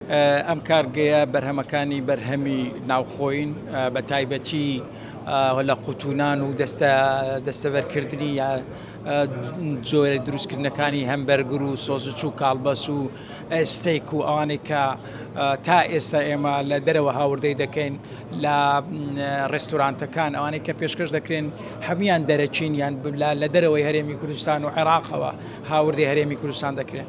ئەم کارگەیە بەرهەمەکانی بەرهەمی ناوخۆین بە تایبەتی لە قوتونان و دەستە دەستەبەرکردنی یا جۆرە دروستکردنەکانی هەم بەرگر و سۆزچ و کاڵبەس و ئەستێک و ئەوانێک کە تا ئێستا ئێمە لە دەرەوە هاوردەی دەکەین لە ڕێستورانتەکان ئەوانەی کە پێشکەش دەکرێن هەموان دەرەچین یان لە دەرەوەی هەرێمی کوردستان و عێراقەوە هاوردی هەرێمی کوردستان دەکرێن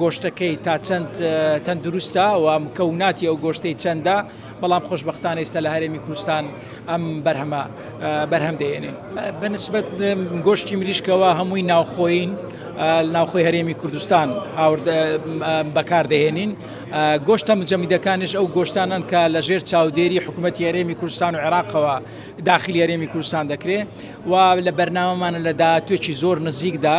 گۆشتەکەی تا چەند تەندروستە و مکەوناتی ئەو گۆشتەی چەندە بەڵام خۆشببختان ئێستا لە هەرێمی کوردستان ئەم بەرهەمە بەرهەم دێنێ بەنسبت گۆشتی مریشکەوە هەمووی ناوخۆین ناوخۆی هەرێمی کوردستان هاورد بەکاردەهێنین گۆشتە مجەمیدەکانش ئەو گۆشتانن کە لە ژێر چاودێری حکوومەت هەرێمی کوردستان و عێراقەوە داخلی هەرێمی کوردستان دەکرێت و لە بەرنامەمانە لە داهاتوێکی زۆر نزیکدا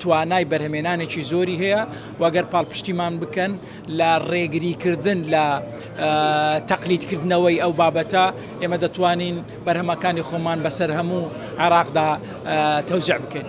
توانای بەرهەمێنانێکی زۆری هەیە و گەر پاڵپشتیمان بکەن لە ڕێگریکردن لە تەقلیدکردنەوەی ئەو بابەتە ئێمە دەتوانین بەرهەمەکانی خۆمان بەسەر هەموو عێراقدا تەوزع بکەین.